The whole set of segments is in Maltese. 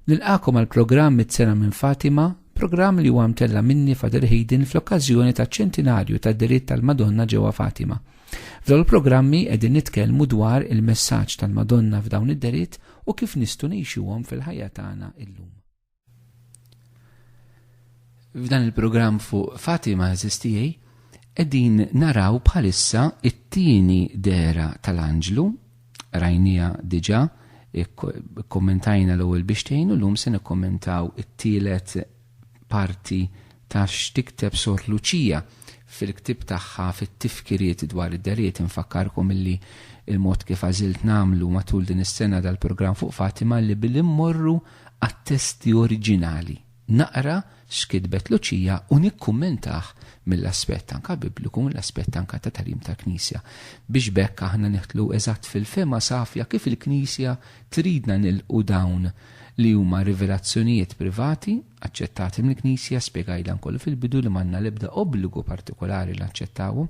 Nilqagħkom għall-programm Miċ-Ċena minn Fatima, programm li huwa mtella' minni Father Hayden fl-okkażjoni taċ-ċentinarju tad-delitt tal-Madonna ġewwa Fatima. F'dawn il-programmi qegħdin nitkellmu dwar il-messaġġ tal-Madonna f'dawn id-delitt u kif nistgħu ngħixuhom fil-ħajja tagħna illum. F'dan il-programm fuq Fatima Zestijaj, edin naraw bħalissa it-tieni dera tal-anġlu, rajnija diġa, kommentajna l-ewwel biex tgħinu l-lum se nikkommentaw it-tielet parti ta' x'tikteb Sor Luċija fil-ktib tagħha fit-tifkiriet dwar id-deriet infakkarkom illi il-mod kif għażilt nagħmlu matul din is-sena dal-programm fuq Fatima li billi mmorru għat-testi oriġinali, naqra x'kitbet Luċija u nikkummentah mill-aspett anke Bibliku, mill-aspett anke ta' tagħlim tal-Knisja, biex b'hekk aħna nidħlu eżatt fil-fehma safja kif il-Knisja tridna nilqu dawn li huma rivelazzjonijiet privati, aċċettati mill-Knisja, spjegajt dan kollu fil-bidu li m'għandna l-ebda obbligu partikolari li naċċettawhom.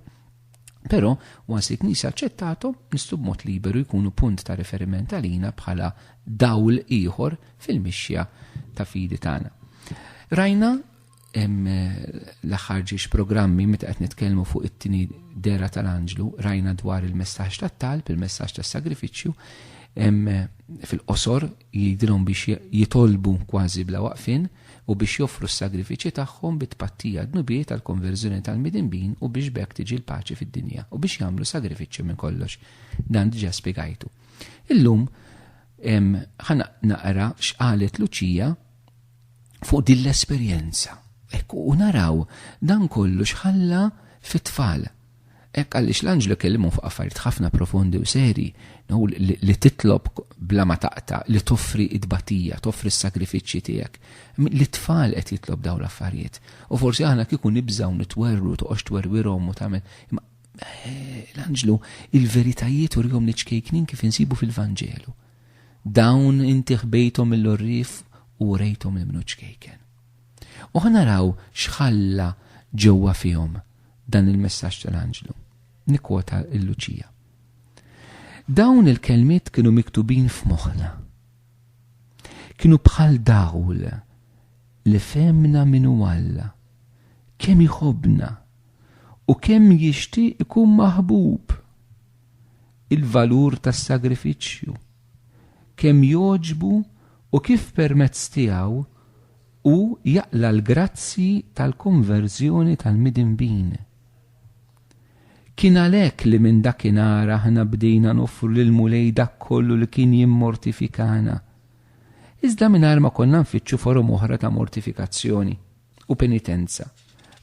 Però, wans li Knisja aċċettathom, nistgħu b'mod liberu jkunu punt ta' riferiment għalina bħala dawl ieħor fil-mixja ta' fidi tagħna. Rajna l-aħħar ġiex programmi meta qed nitkellmu fuq it-tieni dera tal-anġlu, rajna dwar il-messaġġ tat-talb, il-messaġġ tas-sagrifiċċju, fil-qosor jidilhom biex jitolbu kważi bla waqfin, u biex joffru s-sagrifiċċji tagħhom bi tpattija d-dnubiet għall-konverżjoni tal-midinbin u biex b'hekk tiġi l-paċi fid-dinja, u biex jagħmlu sagrifiċċju minn kollox. Dan diġà spjegajtu. Illum ħa naqra x'qalet Luċija fuq din l-esperjenza. Ekku, u naraw dan kollu xħalla fit-tfal. Hekk għaliex l-anġlu kellimhom fuq affarijiet ħafna profondi u serji, hu li titlob bla ma taqta', li toffri t-tbatija, toffri s-sagrifiċċji tiegħek. Lit-tfal qed jitlob dawn l-affarijiet. U forsi aħna kieku nibżgħu nitwerwru, toqgħodx twerwirhom u tagħmel. Imma l-anġlu il-veritajiet urihom li ċkejknin kif insibu fil-Vanġelu. Dawn inti ħbejthom mill-orrif u rejthom il-mnu ċkejken. U ħa naraw x'ħalla ġewwa fihom dan il-messaġġ tal-anġlu. Nikkwota l-Luċija. Dawn il-kelmiet kienu miktubin f'moħħna. Kienu bħal dawl li femna minu Alla, kemm iħobna u kemm jixtieq ikun maħbub. Il-valur tas-sagrifiċċju, kemm joġbu u kif permezz tiegħu hu jaqla' l-grazzji tal-konverżjoni tal-midinbin. Kien għalhekk li minn dakinhar aħna bdejna noffru lill-Mulej dak kollu li kien jimmortifikana, iżda mingħajr ma konna nfittxu forom oħra ta' mortifikazzjoni. u penitenza.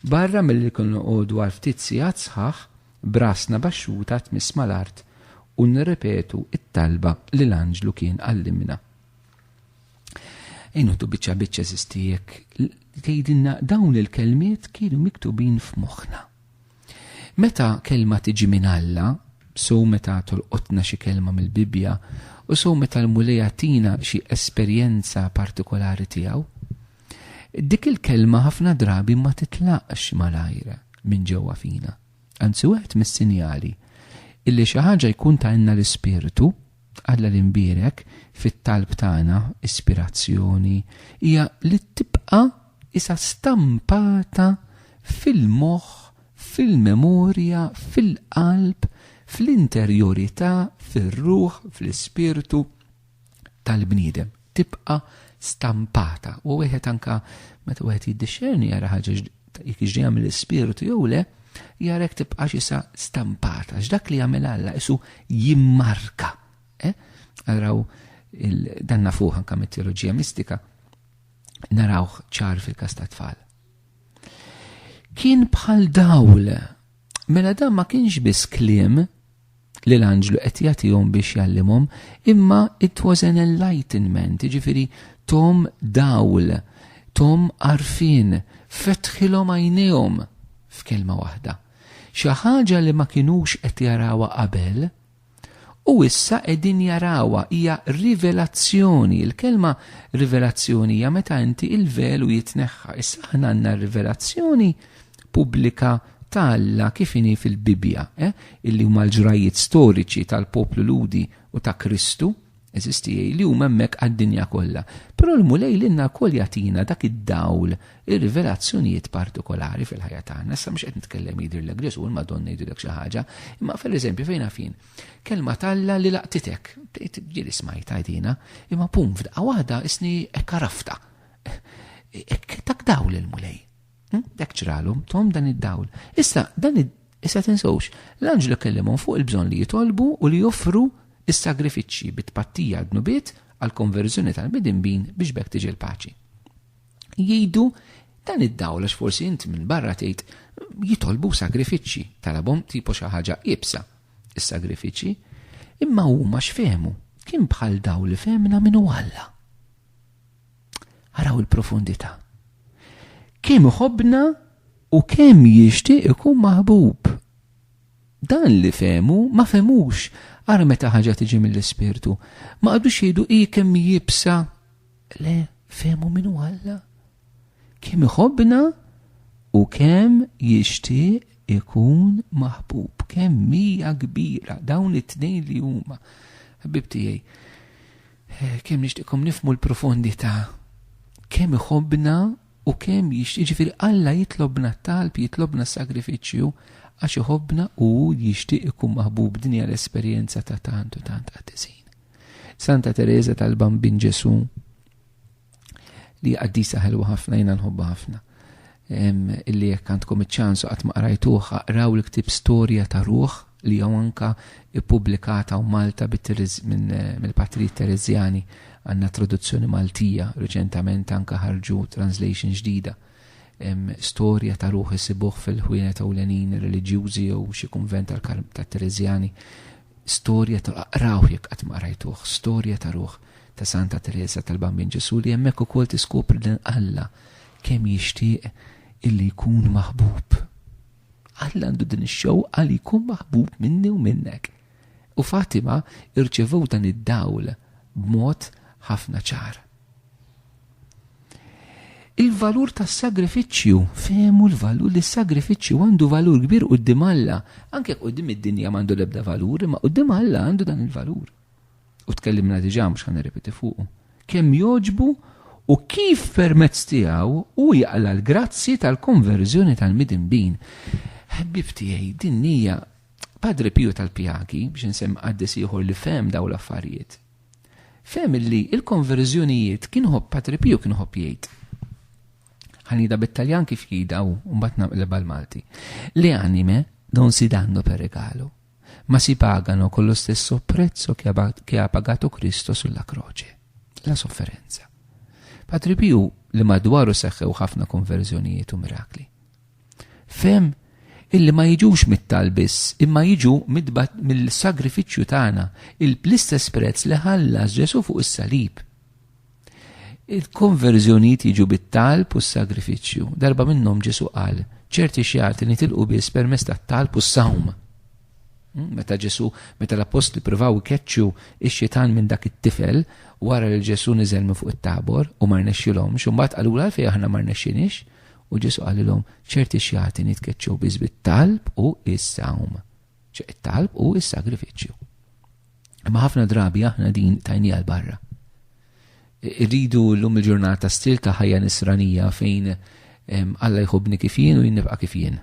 Barra milli kien noqogħdu għal ftit sigħat sħaħ b'rasna baxxuta tmiss mal-art u nirrepetu t-talba li l-anġlu kien għallimna. Inħdu biċċa biċċa żistijek tgħidilna dawn il-kelmiet kienu miktubin f'moħħna. Meta kelma tiġi minn Alla, so meta tolqotna xi kelma mill-Bibbja u so meta l-Mulej tina xi esperjenza partikolari tiegħu. Dik il-kelma ħafna drabi ma titlaqx malajr minn ġewwa fina. Anzi wieħed mis-sinjali illi xi ħaġa jkun tajna l-ispirtu Alla li nbierek fit-talb tagħna ispirazzjoni hija li tibqa' isa stampata fil-moħħ, fil-memorja, fil-qalb, fl-interjorità, fir-ruħ, fl-ispirtu. tal-bniedem tibqa' stampata u wieħed anka meta wieħed jiddixxerni jara ħaġa jekk jiġri jagħmel l-ispirtu jew le, jara jekk tibqa' xisa stampata, x'dak li jagħmel Alla isu jimmarka. Eh? Araw dan nafuh anka mit-teoloġija mistika, narawh ċar fil-kas ta' tfal. Kien bħal dawl Mela dan ma kienx biss kliem li l-anġlu qed jagħtihom biex jgħallimhom, imma it was an enlightenment, jiġifieri tom dawl, tom għarfien, fetħilhom għajnejhom f'kelma waħda. Xi ħaġa li ma kinux qed jarawha qabel, U issa qegħdin jarawha hija rivelazzjoni. Il-kelma rivelazzjoni hija meta inti il-velu jitneħħa. Issa aħna għandna rivelazzjoni pubblika ta' Alla kif inhi fil-Bibbja, eh? illi huma l-ġrajiet storiċi tal-poplu Ludi u ta' Kristu, Eżisti li huma hemmhekk għad-dinja kollha. Però l-Mulej lilna wkoll jagħtina dak id-dawl, ir-rivelazzjonijiet partikolari fil-ħajja tagħna. Issa mhux qed nitkellem jidhirlek Ġesù l-Madonna jidhirlek xi ħaġa, imma fil-eżempju fejn għafin. Kelma talla li laqtitek, ġieli smajt għajdina, imma pum f'daqqa waħda isni hekk għarafta. Hekk tak dawl il-Mulej. Hm? Dak ċralhom, tom dan id-dawl. Issa, dan id Issa tinsewx, l-anġlu kellimhom fuq il-bżonn li jitolbu u li joffru is-sagrifiċċji bit-tpattija għad-nubiet għal-konverżjoni tal-midinbin biex bekk tiġi l-paċi. Jgħidu dan id-dawl għax forsi int minn barra tgħid jitolbu sagrifiċċji talabhom tipo xi ħaġa ibsa is-sagrifiċċji, imma huma x'fehmu kien bħal dawl li fehmna minn Alla. Araw il-profondità. Kemm iħobbna u kemm jixtieq ikun maħbub. Dan li fehmu ma fehmux ara meta ħaġa tiġi mill-ispirtu. Ma qadux jgħidu hi kemm jibsa. Le, fehmu min hu Alla. Kemm iħobbna u kemm jixtieq ikun maħbub. Kemm hija kbira dawn it-tnejn li huma. Ħbib tiegħi, Kemm nixtieqkom nifhmu l-profondità, kemm iħobbna u kemm jixtieq, jiġifieri Alla jitlobna t-talb, jitlobna s-sagrifiċċju għax iħobbna u hu jixtieq ikun maħbub, din hija l-esperjenza ta' tant u tant qaddisin. Santa Tereża tal-Bambin Ġesù. li għaddisa ħelwa ħafna jina nħobba ħafna. Illi jekk għandkom iċ-ċansu qatt ma qrajtuha, qraw l-ktib Storja ta' Ruħ li jew anka ippubblikata u Malta mill-Patri Terezjani għandna traduzzjoni Maltija reċentament anka ħarġu translation ġdida. Storja ta' ruħ isibuh fil-ħwienet ewlenin reliġjużi jew xi kunvent tal-Terezjani storja ta' aqrawh jekk qatt ma qrajtuh, storja ta' ruħ ta' Santa Tereża tal-Bambin Ġesù li hemmhekk ukoll tiskopri li Alla kemm jixtieq illi jkun maħbub. Alla għandu din ix-xewqa li jkun maħbub minni u minnek. U Fatima irċevew dan id-dawl b'mod ħafna ċar. Il-valur tas-sagrifiċċju, fehmu l-valur li s-sagrifiċċju għandu valur kbir quddiem Alla, anke quddiem id-dinja m'għandu l-ebda valur, imma quddiem Alla għandu dan il-valur. U tkellimna diġà mhux ħan nirrepeti fuqu. Kemm joġbu u kif permezz tiegħu u jaqla l-grazzi tal-konverżjoni tal-midinbin. Ħbib tiegħi din hija Padre Pio tal-Pjaki biex insemm qaddis ieħor li fem daw l-affarijiet. Fehem illi l-konverżjonijiet kien iħobb Patripio kien iħobb jgħid, ħa ngħidha bit-Taljan kif jgħidha hu u mbagħad naqlibha l-Malti, Le anime non si danno per regalo, ma si pagano con lo stesso prezzo che ha pagato Cristo sulla croce, la sofferenza. Patripio li madwaru seħħew ħafna konverżjonijiet u mirakli. Fehm illi ma jiġux mit-talb biss, imma jiġu mill-sagrifiċċju tagħna, l-istess prezz li ħallas Ġesù fuq is-salib. Il-konverżjonijiet jiġu bit-talb u s-sagrifiċċju. Darba minnhom Ġesù qal, ċerti xjati nitilqu biss permezz tat-talb u s-sawm. Hmm, meta Ġesù, meta l-apostli provaw ikeċċu x-xitan minn dak it-tifel, wara li Ġesù niżel minn fuq it-tabor u ma rnexxilhomx, u mbagħad qalula għalfejn aħna ma rnexxinix, U Ġesu qalilhom, ċerti xjati nitkeċċew biss bit-talb u is-sawm. ċe it-talb u is-sagrifiċċju. Imma ħafna drabi aħna din tajni għal barra. Irridu l-lum il-ġurnata stil ta' ħajja nisranija fejn Alla jħobni kif jien u jinnibqa kif jien.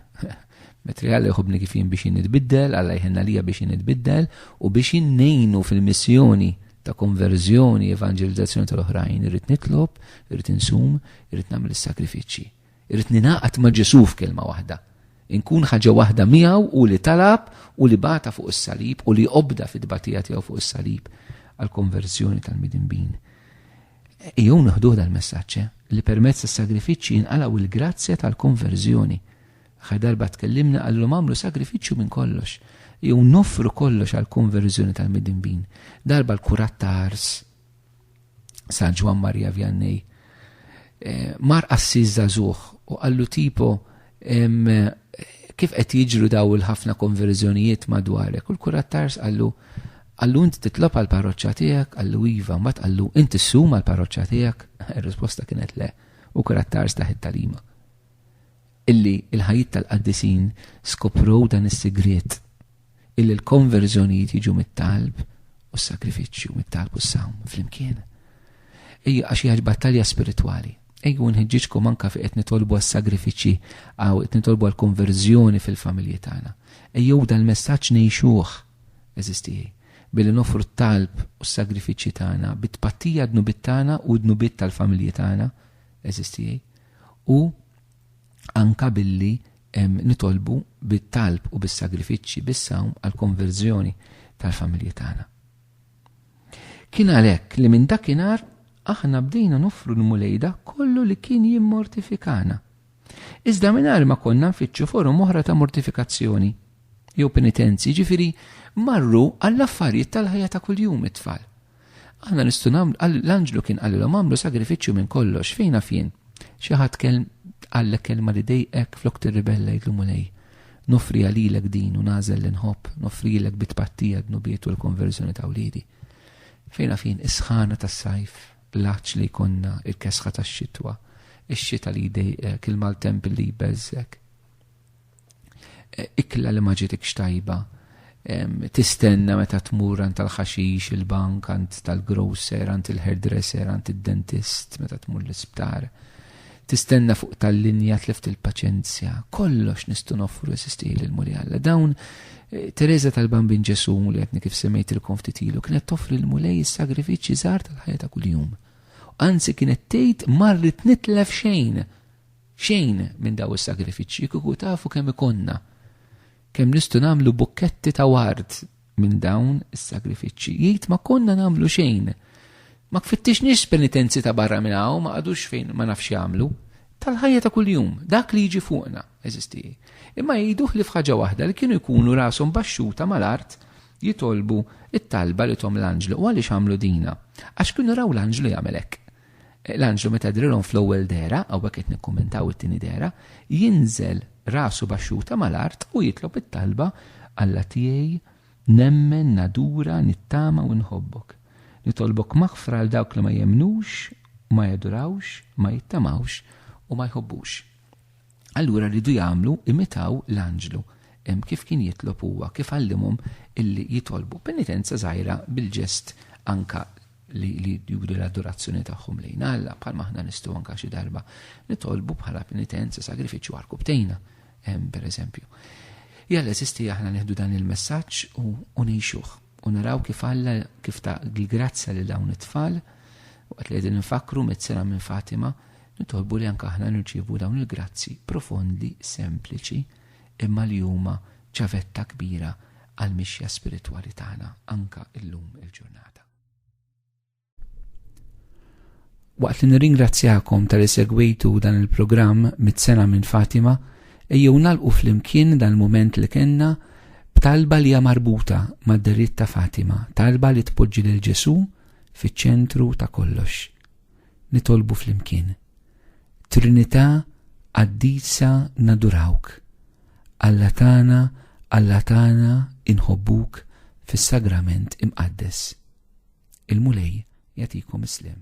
Metri Alla jħobni kif jien biex jinnitbiddel, Alla jħenna lija biex jinnitbiddel u biex jinnejnu fil-missjoni ta' konverżjoni, evanġelizzazzjoni tal-oħrajn, irrid nitlob, irrid insum, irrid nagħmel is-sagrifiċċji. Irrid ningħaqad ma' Ġesù f'kelma waħda. Inkun ħaġa waħda miegħu u li talab u li bata fuq is-salib u li obda fit-tbatija tiegħu fuq is-salib għall-konverżjoni tal-midinbin. Jew naħduh dal-messaġġ eh, li permezz tas-sagrifiċċji jinqalgħu il-grazzja tal-konverżjoni. Aħħar darba tkellimna qallhom għamlu sagrifiċċju minn kollox, jew noffru kollox għal konverżjoni tal-midinbin. Darba l-kurat ta' ars San Ġwan Marija Vjannej eh, mar qassis żagħżugħ u qallu tipo kif qed jiġru daw il-ħafna konverżjonijiet madwarek. U l-kurat tars għallu għallu inti titlob għal parroċċa tiegħek, għallu iva, ma tqallu inti ssum għal parroċċa tiegħek. Ir-risposta kienet le, u kurat tars taħit talima. illi l-ħajjiet tal-qaddisin skoprow dan is-sigriet, illi l-konverżjonijiet jiġu mit-talb u s-sagrifiċċju, mit-talb u s-sawm flimkien. Ejja għax hija battalja spiritwali. Ejju nħeġġiġkom anka fi qed nitolbu għas-sagrifiċċji għaw qed nitolbu għall-konverżjoni fil-familji tagħna. Ejjew dal-messaġġ ngħixuh eżistijaj billi nofru t-talb u s-sagrifiċċji tagħna bit-tpattija dnubit tagħna u dnubit tal-familji tagħna eżistijaj u anke billi nitolbu bit-talb u bis-sagrifiċċji, bis-sawm għall-konverżjoni tal-familji tagħna. Kien għalhekk li minn dakinhar aħna bdejna noffru l-Mulej dak kollu li kien jimmortifikana. Iżda mingħajr ma konna nfittxu forom oħra ta' mortifikazzjoni jew penitenzi, ġifiri marru għall-affarijiet tal-ħajja ta' kuljum it-tfal. Aħna nistgħu nagħmlu l-anġlu kien qalilhom għamlu sagrifiċċju minn kollox fejn fien. Xi ħadd kelm għallek kelma li dejqek flok tirribella jgħidlu mulej. Nofri għalilek din u nażel li nħobb, nofrilek bitpattija dnubiet u l-konverżjoni ta' wliedi. Fejn fien is-sħana tas-sajf, l-aċ li jkonna, il-kesħa tax-xitwa, ix-xita li jdejqek, il-maltemp li jbeżżek. ikla li ma ġitikx tajba, tistenna meta tmur għand tal-ħaxix, il-bank, għand tal-grocer, għand il-hairdresser, għand id-dentist, meta tmur l-isptar. Tistenna fuq tal-linja tleft il-paċenzja, kollox nistgħu noffru esisti lil muli Alla. Dawn eh, Teresa tal-Bambin Ġesu li għetni kif semmejt il konftitilu kienet toffri l-mulej is-sagrifiċċji żgħar tal-ħajja ta' kuljum. Anzi kienet tgħid marrit nitlef xejn Xejn minn dawn is-sagrifiċċji kieku tafu kemm ikollna, kemm nistgħu nagħmlu bukketti ta' ward minn dawn is-sagrifiċċji. Jgħid ma konna nagħmlu xejn. Ma kfittixniex penitenzi ta' barra minn hawn, ma qagħdux fejn ma nafx jagħmlu. Tal-ħajja ta' kuljum, dak li jiġi fuqna, eżisti. Imma jgħidu ħlief ħaġa waħda li kienu jkunu rashom baxxuta mal-art jitolbu t-talba li thom l-anġlu. U għaliex għamlu dinha? Għax kienu raw l-anġlu jagħmel hekk. L-anġlu meta drilhom fl-ewwel dehra, hawnhekk qed nikkummentaw it-tieni dehra, jinżel rasu baxxuta mal-art u jitlob it-talba, Alla tiegħi, nemmen, nadura, nittama u nħobbok. Nitolbok maħfra għal dawk li ma jemmnux, ma jadurawx, ma jittamawx u ma jħobbux. Allura rridu jagħmlu, imitaw l-anġlu, hemm kif kien jitlob huwa, kif għallimhom illi jitolbu. Penitenza żgħira bil-ġest anka li li juri l-adorazzjoni tagħhom lejn Alla bħal maħna nistgħu anka xi darba nitolbu bħala penitenza sagrifiċċju għal kubtejna, per eżempju. Jalla eżisti aħna neħdu dan il-messaġġ u ngħixuh u naraw kif Alla kif ta' l-grazzja li dawn it-tfal waqt li qegħdin nfakru mezzera minn Fatima nitolbu li anka aħna nirċievu dawn il-grazzi profondi, sempliċi, imma li huma ċavetta kbira għall-mixja spiritwali tagħna anka illum il-ġurnata. Waqt li nirringrazzjakom tal segwitu dan il-programm mit-sena minn Fatima, ejjew nalqu flimkien dan il-moment li kenna b'talba li hija marbuta mad-deritt ta' Fatima, talba li tpoġġi lil Ġesu fiċ-ċentru ta' kollox. nitolbu flimkien. Trinità qaddisa nadurawk. Alla tagħna, Alla tagħna inħobbuk fis-sagrament imqaddes. Il-Mulej jagħtikom is-sliem.